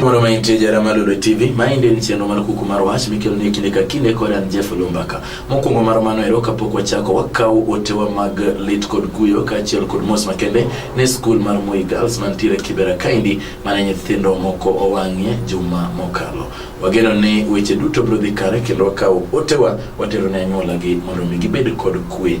Moro ma intie jara malure TV, maende en chenro mar kuku mar wach mikelo ni kinde ka kinde kod an Jeff Lumbaka. Mokwongo mar mano ero kapok wachako wakaw otewa mag lit kod kuyo kaachiel kod mos makende ne skul mar Moi Girls mantiere Kibera Kaindi mane nyithindo moko owang'ie juma mokalo. Wageno ni weche duto biro dhi kare kendo wakaw otewa watero ne anyuolagi mondo mi gibed kod kwe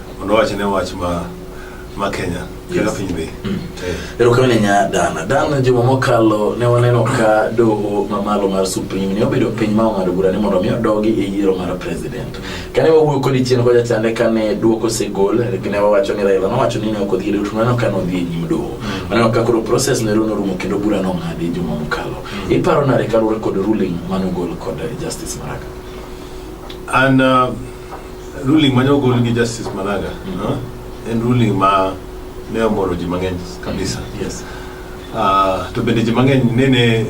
Mondo wach ne wach ma ma Kenya kaka piny dhi. Mm. Erokamano nya Dana. Dana juma mokalo ne waneno ka doho mamalo mar Supreme ne obedo piny ma ong'ado bura ni mondo omi odogi e yiero mar president. Kane wawuoyo kodi chien kocha chande kane duoko osegol ne wawacho ni Raila nowacho ni ne ok odhi to waneno ka nodhi e nyim doho. Mm. Waneno ka koro process ne norumo kendo bura nong'adi juma mokalo. Mm. Iparo nade kaluwore kod ruling manogol kod Justice Maraga? An uh, Ruling mane ogol gi Justice Maraga mm -hmm. huh? en ruling ma ne omoro ji mang'eny kabisa. Mm -hmm. Yes. Uh, to bende ji mang'eny nene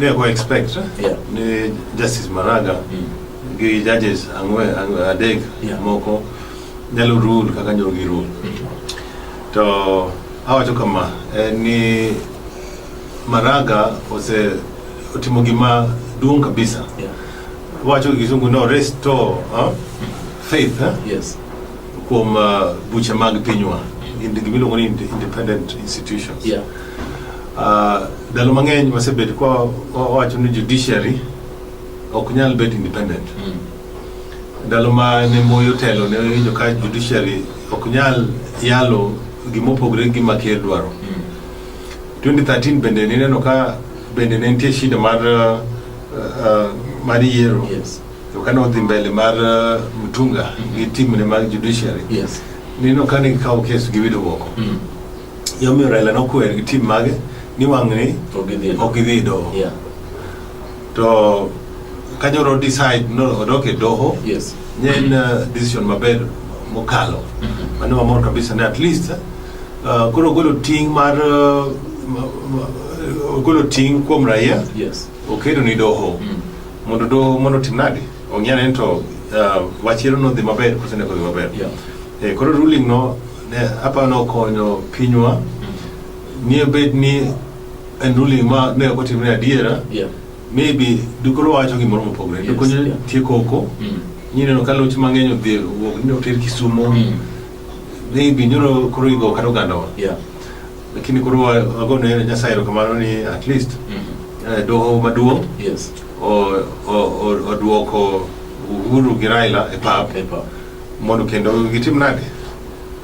ne go expect yeah. ni Justice Maraga mm -hmm. gi judges ang'we adek yeah. moko nyalo rule kaka nyalo gi rule. Mm -hmm. To awacho kama eh, ni Maraga ose otimo gima duong' kabisa yeah. Wacho gi Kisungu no restore huh? faith huh? Yes. kuom uh, buche mag pinywa Indi- gimiluongo ni inde- independent institutions Yeah. Uh, ndalo mang'eny wasebet kwa wawacho ni judiciary ok nyal bet independent Mm. ndalo ma ne moyo telo ne winjo ka judiciary ok nyal yalo gimopogre gi gima ker dwaro Mm. 2013 bende nineno ka bende ne nitie shida mar uh, uh, mar yiero yes. to kane odhi mbele mar uh, mtunga mm -hmm. gi timne mag judiciary yes. nino kane gikawo kes giwito oko mm -hmm. yomiyo raila nokwer gi tim mage ni wang'ni ok idhi doho yeah. to kanyoro decide no odok e doho yes. nye en uh, decision maber mokalo mm -hmm. mane wamor kabisa ne at least uh, koro ogolo ting' mar uh, ogolo ting' kuom raia yes. Okedo ni doho mm. mondo doho mondo tim nadi ong'e ane to uh, wachiro nodhi maber kose ne kodhi maber yeah. eh, koro ruling no ne apa nokonyo pinywa mm. nie bed ni en ruling ma ne ok otimre adiera yeah. maybe dukoro wacho gimoro mopogore yes, dokonyo yeah. tie koko mm. nyineno ka loch mang'eny odhi wuok ni oter kisumo mm. maybe nyoro koro igo kata ogandawa yeah. Lakini koro ago ne Nyasaye erokamano ni at least mm -hmm. eh, doho maduong' yes. oduoko Uhuru gi Raila e pap e mondo kendo gitim nade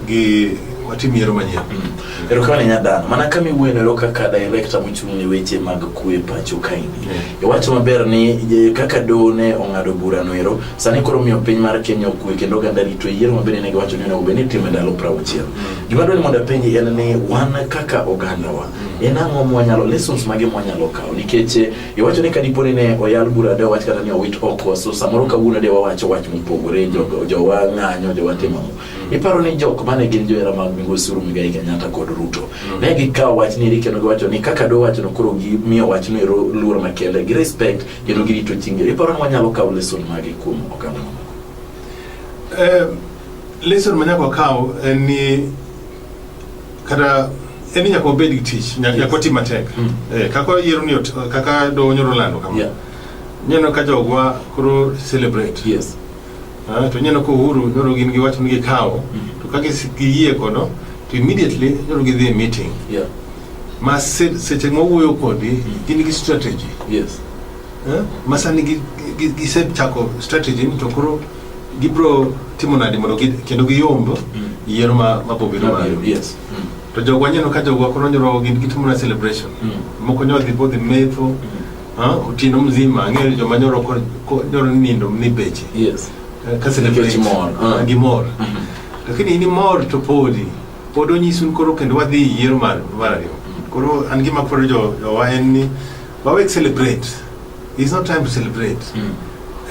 gi watim yiero manyien mm. erokamano nyadhano mana kama iwuenero kaka director mochung' ne weche mag kwe pacho kaini mm. iwacho maber ni kaka doho ne ong'ado burano ero sani koro miyo piny mar kenya okwe kendo oganda rito yiero maber ne giwacho ni onego bed ni itimo e ndalo prauchiel mm. Gima dwani mondo apenji en ni wan kaka ogandawa mm. en ang'o mwanyalo lessons mage mwanyalo kawo nikech eh, iwacho ni kadipo ni ne oyal bura de wach kata ni owit oko so samoro kawuono de wawacho wach mopogore jogo jowa ng'anyo jowa timo mm. iparo ni jok mane gin johera mag migosi Uhuru Muigai Kenyatta kod Ruto mm. ne gikawo wach ni kendo giwacho ni kaka do wacho no koro gimiyo wach no ero luor makende gi respect kendo girito chinge iparo ni wanyalo kawo lesson mage kuom okang' eh, Lesson ma nyaka wakaw en ni kata en ni nyaka wabed gi tich, nyaka nyaka wati matek. Mm. Eh, kaka yiero ni ot- kaka do nyoro lando kama. Yeah. Neno ka jogwa koro celebrate. Yes. Ah, to neno ko uhuru nyoro gin gi wach ni gikawo to ka gis- giyie kodo to immediately nyoro gidhi e meeting Yeah. ma se- seche ma wuoyo kodi gin gi strategy Yes. eh? ma sani gi- gi- gisechako strategy ni to koro gibro timo nadi mondo gi, kendo giyomb mm. yiero ma ma bobi no mayo yes mm. to jogo wanyeno ka jogo koro nyoro gin gitimo na celebration mm. moko nyoro dhi bodhi metho mm. ha utino mzima ang'eyo joma nyoro ko nyoro nindo ni beche yes eh, ka celebration mor ah. gi mor mm -hmm. lakini ni mor to podi pod onyisun koro kendo wadhi yiero mar mar ariyo mm. koro an gima koro jo, jo wa en ni Wawek celebrate. It's not time to celebrate. Mm.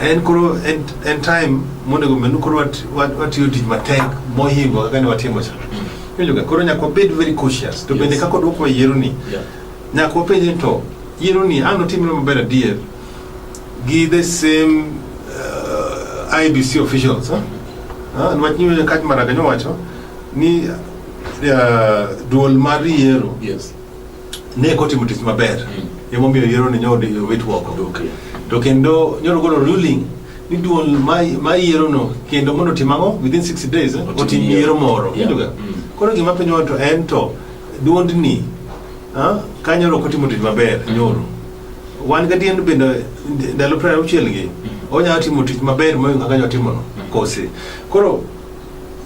En koro en, en time monego menu koro wat, wat, watiyo tich matek mohingo kaka ne watimo cha. Mm. Iwinjoga koro nyaka wabed very cautious. To yes. bende kaka odwoko yiero ni. Yeah. Nyaka wapenje ni to yiero ni an otimre maber adier gi the same uh, IBC officials. Huh? Mm. Ah, nwach ni kach maraga nyowacho ni uh, duol mar yiero. Yes. ne kotimo tich maber mm. emomiyo yiero ni nyod wit woko okay. to kendo nyoro golo ruling ni duol ma yiero no kendo mondo otim ang'o within 60 days eh, otim yiero moro yeah. mm. koro gima piny wato en to duondni ah, ka nyoro kotimo tich maber mm. nyoro wan gadiendo bende ndalo piero auchiel gi mm. onyalo timo tich maber moingo kaka nyotimono mm. kose koro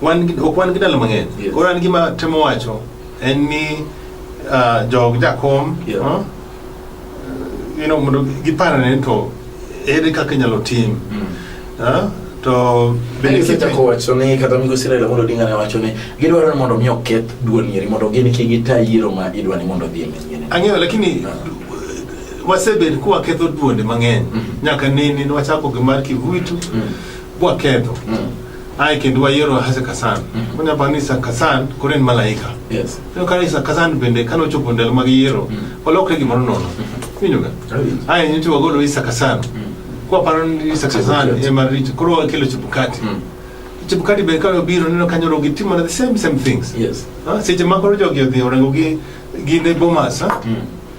Wan gi- ok wan gi ndalo mang'eny Yes. koro an gima temo wacho en ni ah, jog jakom Yeah. ah, you know, mondo giparane ni to ere kaka inyalo tim ah, to bende Bende kipi- wacho ni kata migosi Raila Amolo Odinga ne wacho ni gidwaro ni mondo mi oketh duol nyeri mondo gin ki gita yiero ma idwa ni mondo odhi e manyien. ang'eyo lakini wasebed kwaketho duonde mang'eny Mhm. nyaka nene nwachako gi mar kivuitu Mm. bwaketho Mm. ai kendo wayiero hase kasan mm-hmm. onya pa ni kasan koro en malaika yes to kare isa kasan bende kano chopo ndel mag yiero mm-hmm. olokre gimoro nono mm-hmm. winjo ga ai ni to wagolo isa kasan kwa paro ni isa kasan e mar rich koro akelo chupukati chupukati be kano biro neno kanyo rogi timo the same same things yes ah, seche ma koro jogi odhi orango gi gi ne bomas ah?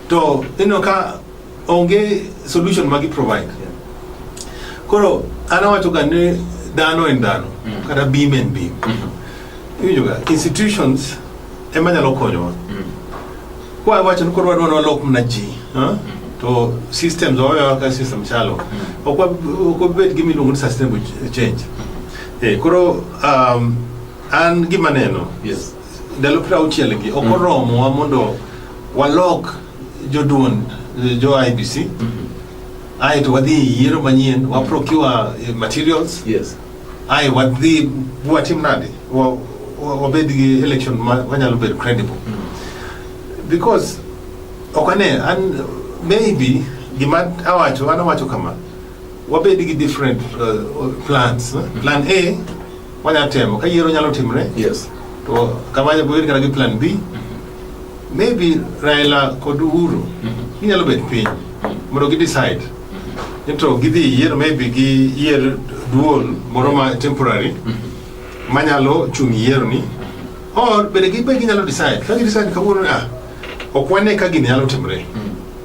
to ino ka onge solution ma gi provide koro an awacho ga ni dhano en dhano mm. kata beam en beam mm-hmm. iwinjo ga institutions ema nyalo konyowa mm. kwa awacho ni koro wadwa ni walok mana ji mm-hmm. to systems wawewa ka system chalo mm. ok wabed gi miluongo ni sustainable change eh, koro um, an gima neno ndalo piero auchiel gi ok oromowa mondo walok Joduond jo IBC ae to wadhi e yiero manyien wa procure eh, materials Yes. ae wadhi watim nade Wa- wa- wabed gi election ma- wanyalo bedo credible because ok ane an maybe gima awacho an awacho kama Wabed gi different uh, plans. Eh? Plan A wanya temo ka yiero nyalo timre. Yes. To kama wabed kata gi plan B. Maybe Raila kod Uhuru mm-hmm. ginyalo bet piny mm-hmm. mondo gi decide mm-hmm. nito gidhi yiero maybe gi yier duol moro ma temporary manyalo chung' yiero ni or bende gibed ginyalo decide ka gi decide kawuono ah ok wane ka gini nyalo timre. Mm.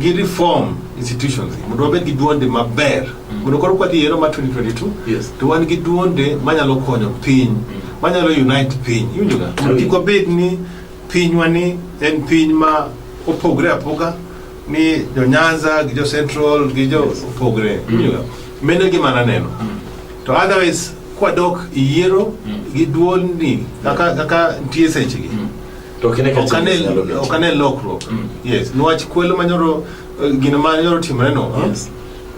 gi reform institutions mondo wabed gi duonde maber mondo koro kwadhi yiero ma 2022 Yes. to wan gi duonde manyalo konyo piny manyalo unite piny iwinjoga mondo kik wabed ni pinywa ni en piny ma opogre apoga ni jo nyanza gi jo central gi jo opogre iwinjoga mene gima naneno to otherwise kwadok yiero gi duolni kaka kaka nitie sechegi To kine ka chimbe nyalo bedo. Ok ane lokruok. Mm. Yes. Nwach kwelo manyoro eh, gino manyoro timre no. Eh? Yes.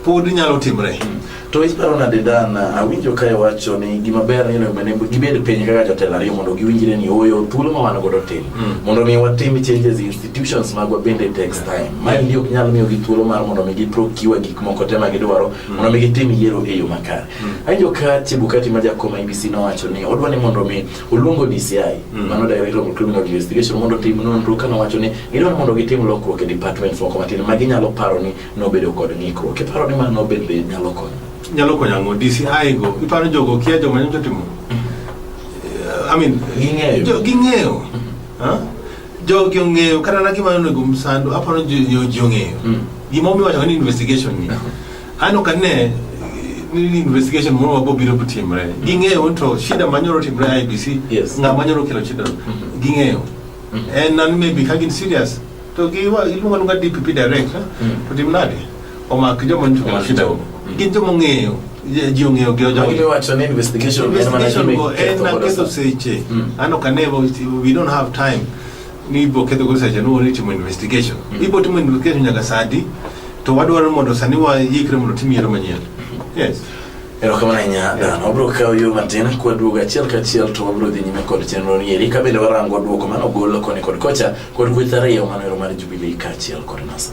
Pod nyalo timre. Mm. To iparo na dedan awinjo kae wacho ni gima ber ni onego ne gibed piny kaka jotelo ariyo mondo giwinjre ni oyo thuolo ma wan godo tin. Mm. Mondo mi watim changes institutions magwa bende takes time. Ma ndi ok nyal miyo gi thuolo mar mondo mi giprocure gik moko te ma gidwaro mondo mi gitim yiero e yo makare. Awinjo ka Chebukati ma jakoma IBC nowacho ni odwa ni mondo mi Oluongo DCI, mm. mano Director of Criminal Investigation, mondo tim nonro ka nowacho ni gidwaro mondo gitim lokruok e departments moko matin ma ginyalo paro ni nobedo kod ng'ikruok. Iparo ni mano nobed be nyalo konyo? Nyalo konyo ang'o? DCI go, iparo jogo kia joma nyocha timo? Mm-hmm. I mean, ging'eyo. Ging'eyo. Mm-hmm. Jogi ong'eyo, kata na gima onego msando, aparo ni jogi ong'eyo. Mm. Gima omiyo wacho ni investigation ni. Ano ka ne ni investigation moro mabo biro timre. Mm. Ging'eyo to shida manyoro timre IBC. Yes. Ng'a manyoro kelo shida. Mm-hmm. Ging'eyo. Mm. And nan maybe kagin serious. To gi wa iluongo nunga DPP direct. Mm. To dimnade. Omak joma nito kelo shida. Mm. Gin joma ng'eyo. ji ong'eyo gi ojoinvestigation go en na keso seche ano kanevo we don't have time ni ibo ketho go seche no ni timo investigation mm. ibo timo investigation nyaka sadi to wadwaro mondo sani wa yikre mondo tim yiero manyien mm. yes erokamano ahinya dan wabiro kawo yo matin kwaduogo achiel kachiel to wabiro dhi nyime kod chenro ni eri ka bende warango duoko mano golo koni kod kocha kod kweth ariyo mano ero mar jubilei kaachiel kod nasa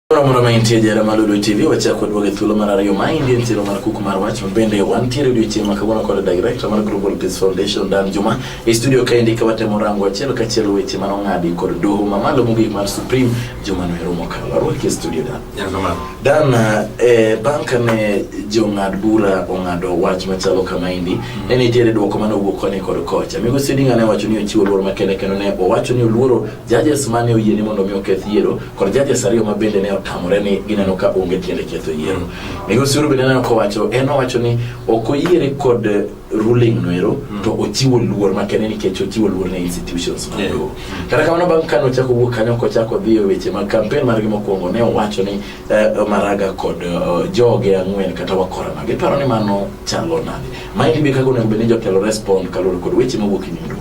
Moro ma intie jara ma Lulu TV wachako duogo e thuolo mar ariyo ma indie ntiero mar kuku mar wach mabende wantiere odiochieng' ma kawuono kod director mar Global Peace Foundation Dan Juma e studio ka indi ka watemo rango achiel ka achiel weche mano ng'adi kod doho ma malo mogik mar Supreme Juma no erumo kalo arwaki e studio Dan Dan eh, bang' kane jong'ad bura ong'ado wach machalo kama indi ne nitiere dwoko mane owuok koni kod kocha Migosi Odinga ne wacho ni ochiwo luor makende kendo ne owacho ni oluoro judges ma ne oyie ni mondo mi oketh yiero kod judges ariyo ma bende ne otamore ni gineno ka onge tiende ketho yiero. Migosi Uru bende neno kowacho en owacho ni ok oyiere kod ruling noero mm. to ochiwo luor makende nikech ochiwo luor ne institutions mag yeah. doho kata kamano bang' kane ochako wuok kanyo kochako dhi e weche mag kampen margi mokwongo ne owacho ni uh, maraga kod uh, joge ang'wen kata wakora mage paro ni mano chalo nade maendi be kaka onego bed ni jotelo respond kaluwore kod weche mawuok e nyim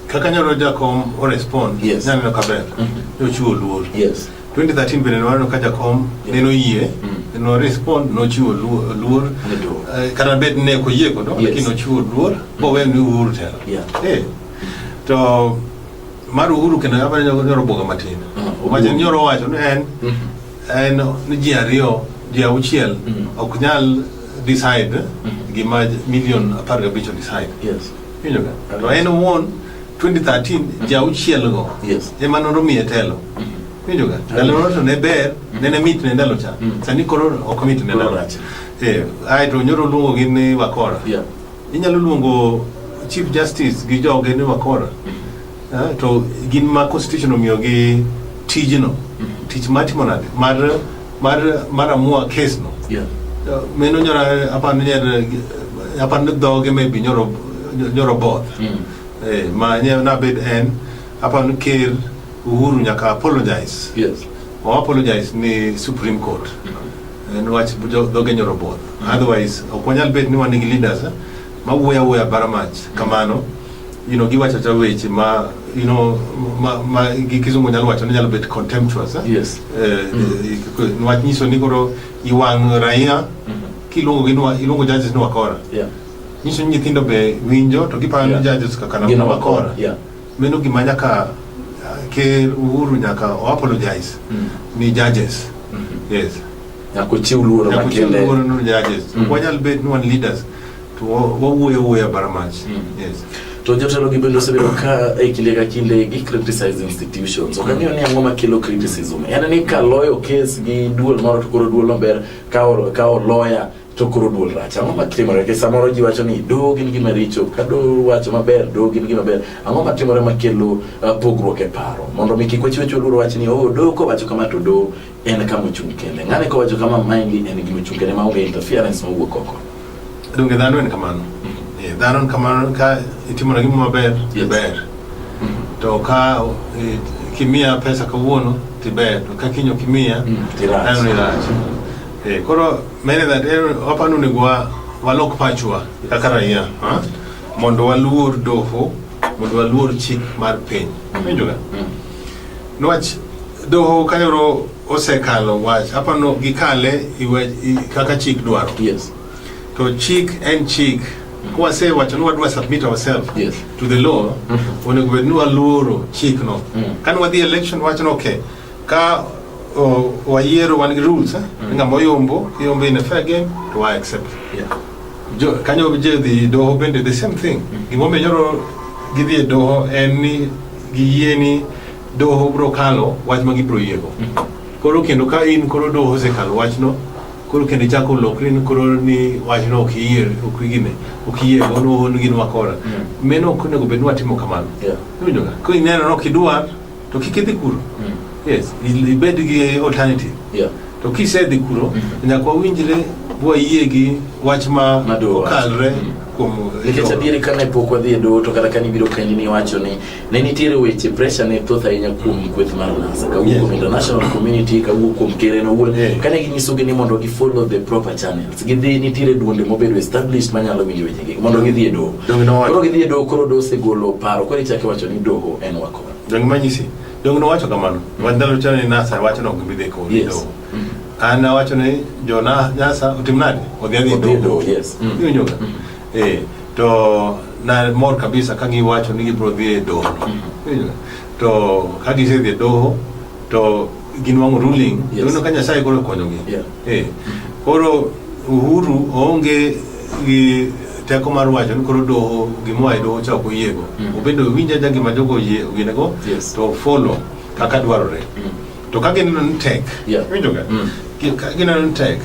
Kaka nyalo jakom o respond, yes. nyaneno kaber, mm -hmm. yochiwo luor. Yes. 2013 bende nwaneno ka jakom yeah. neno yie mm -hmm. no respond nochiwo luor, luor. Uh, kata bed ne ko yie kodo yes. lakini nochiwo luor mm -hmm. bowe ni uhuru tena yeah. hey. Eh. to mar uhuru kendo abane nyoro boga matin mm -hmm. wacho nyoro wacho ni en mm -hmm. en ni ji ariyo ji auchiel mm -hmm. ok nyal decide mm -hmm. gima million apar gabich decide yes. Winjo ka? Okay. To en owuon 2013 ja auchiel go Yes. ema noromiye telo. Winjo ka? Ndalo moro to ne ber, ne ne mit ne ndalo cha. Mm. Sani koro ok mit ne Koro ndalo. rach. Eh, ai to nyoro luongo gi ni Wakora. Yeah. Inyalo luongo Chief Justice gi joge ni Wakora. Ah, to gin ma constitution omiyo gi tijno. Tich matimo nade? Mar mar mar amua case no Yeah. Uh, meno nyora apa ne nyer apa ne doge maybe nyoro nyoro both Mm. eh ma nye na bed en apa ne ker uhuru nyaka apologize Yes. o apologize ni supreme court en wach jo- doge nyoro both otherwise ok wanyal bed ni wan gi leaders eh? ma wuoyo awuoya bara mach kamano you know giwacho cha weche ma you know ma, ma gi kizungu nyalo wacho ni nyalo bet contemptuous eh? Yes. eh, mm. wach nyiso ni koro iwang' raia mm -hmm. kiluongo gi nwa- iluongo judges ni wakora Yeah. nyiso ni nyithindo be winjo to giparo ni Yeah. judges kaka na- Gin na wakora. wakora Yeah. Meno gima nyaka uh, ker Uhuru nyaka o apologize mm. ni judges. Mm -hmm. Yes. Nyaka ochiw luoro makende. Nyaka ochiw luoro ni judges. Mm. -hmm. Wanyal bet ni wan leaders to wawuoyo wuoya bara mach. Mm. -hmm. Yes. To jotelo gi bende osebedo ka e kinde ka kinde gi criticize institutions. Ok ang'eyo ni ang'o makelo criticism. En ni ka loyo kes gi duol moro to koro duol maber ka ka loya to koro duol rach ang'o matimore ke samoro ji wacho ni doho gin gima richo ka doho wacho maber doho gin gima ber ang'o matimore makelo uh, pogruok e paro mondo mi kik wachiwe chuo luoro wach ni oh doho kowacho kama to doho en kama ochung' kende ng'ane kowacho kama maingi en gima ochung' kende maonge interference mowuok oko donge dhano en kamano mm-hmm. eh, dhano en kamano ka itimona gima maber iber mm-hmm. to ka eh, kimiya pesa kawuono tiber to ka kinyo kimiya mm, dhano irach eh, koro Many that eh, hapa ni kwa walok pachwa kaka raia mondo waluor doho mondo waluor chik mar piny winjoga mm. niwach doho kayoro osekalo wach apano gikale iwe, i, kaka chik dwaro yes. to chik en chik kwase wacho ni wadwa submit ourselves yes. to the law mm -hmm. onego bed ni waluoro chikno mm. kane wadhi election wacho ni okay Ka o, wayiero wan gi rules eh? Mm. Ng'ama oyombo, iyombo in a fair game to wa accept. Yeah. Jo, kanyo je dhi doho bende the same thing. Mm. Gima omiyo nyoro gidhi e doho en ni giyie ni doho bro kalo wach ma gibro yiego. Mm. Koro kendo ka in koro doho osekalo wachno, koro kendo ichako lokri ni koro ni wachno ok iyie ok igine ok iyie go no hon gin wakora. Mm. Meno ok onego bed ni watimo kamano. Yeah. Iwinjo ka? Koro ineno ni ok idwar to kik idhi kuro mm. yes ibed gi alternative yeah. to kisedhi kuro mm -hmm. nyaka wawinjre wayie gi wach ma okalre mm. kuom nikech adieri kane pok wadhi e doho to kata kane ibiro penji ni iwacho ni ne nitiere weche pressure ne thoth ahinya kuom mm. kweth mar nasa kawuok yes. kuom international community kawuok kuom keren owuon yeah. kane ginyisogi ni mondo gi follow the proper channels gidhi nitiere duonde mobedo established manyalo winjo wechegi mondo gidhi e doho koro gidhi e doho koro doho osegolo paro koro ichake wacho ni doho en wako Donge manyisi? Donge nowacho kamano? Wach ndalo chano ni Nasa wacho no gimbi dheko. Yes. An awacho ni jo na Nasa otim nade? Odhi adhi Odhi dogo. dogo, yes. Mm. Iwinjo ga? Eh, to na mor kabisa ka giwacho ni gibiro dhi e doho. Iwinjo ga? To ka gisedhi e doho to gin wang'o ruling yes. Yuno ka Nyasaye koro konyogi yeah. hey. Eh, koro Uhuru onge gi teko mar wacho ni koro doho gimoa e doho cha ok oyiego mm. obedo winja ja gima jogo oyie ginego yes. to follow kaka dwarore mm. to ka gineno ni tek yeah. winjoga mm. ka gineno ni tek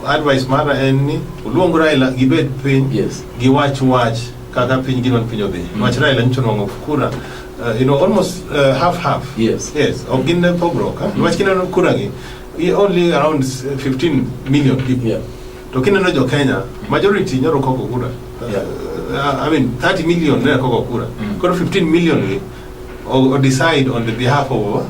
advice mara en ni oluong Raila gibed piny yes. giwach wach kaka piny gino piny odhi mm. wach Raila nyicho nwang'o kura Uh, you know, almost uh, half half. Yes. Yes. Of Guinea Pogro, huh? Mm. Wachina no kurangi. We only around 15 million people. Yeah. Tokina no jo Kenya, majority nyoro koko kura. Uh, yeah. Uh, I mean, 30 million ne koko kura. Mm. Koro 15 million we or, or decide on the behalf of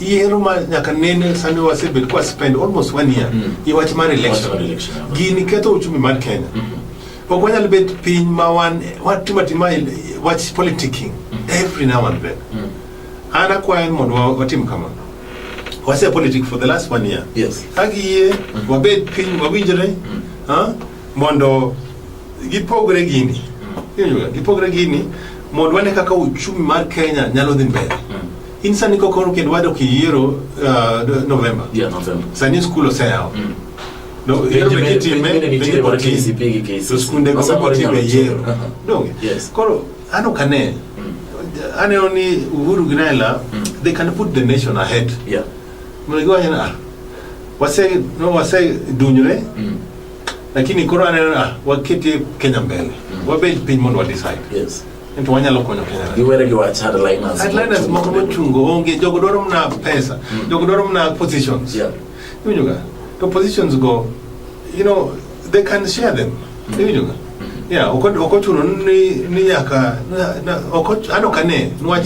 yiero ma nyaka nene sani wasebedo kwa spend almost one year mm. i wach mar election gini ketho uchumi mar Kenya mm -hmm. ok wanyal bet piny ma wan watimo atima wach politicking mm -hmm. every now and then mm -hmm. an akwayo mondo watim kamano wase politic for the last one year yes. ka giyie mm -hmm. wabed piny wawinjre mm -hmm. ha? mondo gipogre gini mm -hmm. gipogre gini mondo wane kaka uchumi mar Kenya nyalo dhi mbele mm -hmm. In sani kokoro kendo wado kiyiero uh, November. Yeah, November. Sani skul oseyawo. Mm. No, yiero be kitime penjo kod KCP gi KCC. To skunde go ma kotime yiero. Uh-huh. Donge. Yes. Koro ano kane. Mm. Aneno ni Uhuru gi Raila mm. they can put the nation ahead. Yeah. Mlego wanyana ah. Wase no wase dunyre. Mm. Lakini koro aneno ah waketi Kenya mbele. Mm. Wabed piny mondo wa decide. Yes. Ento wanyalo konyo Kenya. Giwere gi wach headliners. Headliners moko mochungo onge, jogo dwaro mna pesa, mm. jogo dwaro mna positions. Yeah. Iwinjo ga? To positions go, you know, they can share them. Mm. Iwinjo ga? Yeah, oko oko chuno ni ni nyaka na, na oko ano kane nwach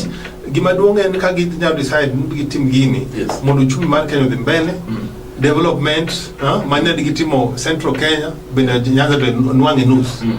gima duong en ka ginyalo decide ni gitim gini yes. mondo uchumi mar Kenya odhi mbele mm. development uh, mane gitimo Central Kenya bende Nyanza to nwang'e nus mm.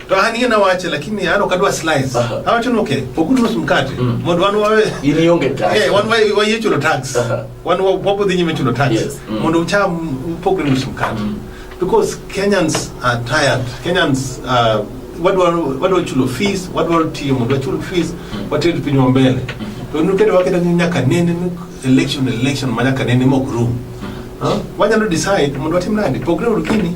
to an ina wache lakini an ok adwa slice Aha. awacho ni okay poguru nus mkate Mm. mondo wan wawe In ionge tax. Eh, wan waye waye chulo tax Aha. wan wa- wapo dhi nyime chulo tax Yes. Mm. mondo ucham upogre nus mkate Mm. because kenyans are tired kenyans uh, wadwa wadwa chulo fees wadwa tiyo mondo wachul fees wated pinywa mbele to nukete waketa ni nyaka nene ni election election ma nyaka nene mok rum Huh? wanyalo decide mondo watim nadi pogre uru kini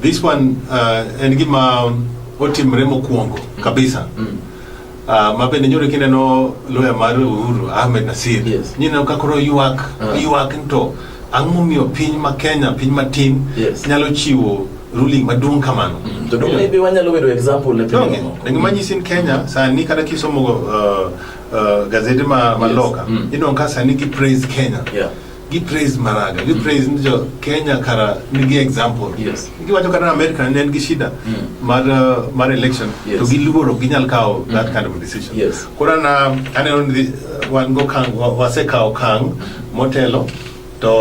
This one uh, en gima otimre mokwongo mm. kabisa mm. Uh, ma bende nyoro kineno loya mar Uhuru Ahmed Nasir yes. nyineno ka koro ywak uh. ywak nto ang'o momiyo piny ma Kenya piny matin yes. nyalo chiwo ruling maduong' kamano mm. to maybe wanyalo bedo example ne piny no, ne gima nyisi in Kenya mm. sani kata kisomo uh, uh, gazete ma, ma yes. loka mm. inonka sani ki praise Kenya yeah. gi praise maraga gi praise ni jo kenya kara nigi example Yes. giwacho kata america ne en gi shida Mm. mar uh, mar election Yes. to giluoro ok ginyal kawo that kind of decision Yes. koro na aneno ni uh, wan go kang wa- wasekawo kang motelo to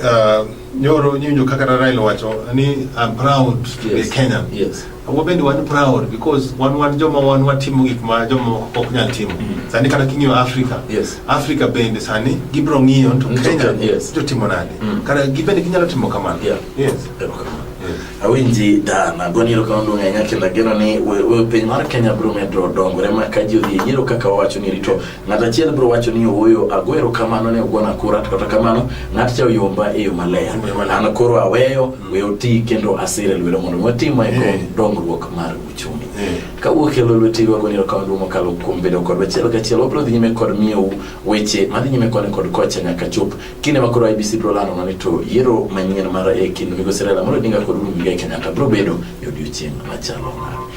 uh, nyoro nyinjo kaka Raila wacho ni I'm proud to be a Yes. Kenyan Yes. Agwa bende wan proud because wan wan joma wan watimo gik ma joma ok nyal timo. Mm. Sani kata king'iyo Africa. Yes. Africa bende sani gibro ng'iyo to mm, Kenya yes. to timo nade. Mm. Kata gibende ginyalo timo kamano. Yeah. Yes. Yeah. awinji dan agoni erokamano duong' ahinya kendo ageno ni piny mar kenya biro medo dongore ma ka ji odhi e yiero kaka wawacho ni rito ng'at achiel biro wacho ni ooyo ago erokamano ne ogona kura to kata kamano ng'at cha oyomba e yo maler an koro aweyo we oti kendo asire lwedo mondo mi watim mae kod eh. dongruok mar uchumi eh. ka wuok e lweti rwago ni erokamano duong' mokalo kuom bedo kodwa achiel kachiel wabiro dhi nyime kod miyou weche madhi nyime koni kod kocha nyaka chop kinde ma koro IBC biro lando nani to yiero manyien mar e kind Migosi Raila Amolo Odinga kod Uhuru Muigai Kenyatta biro bedo e odiechieng' machalo nade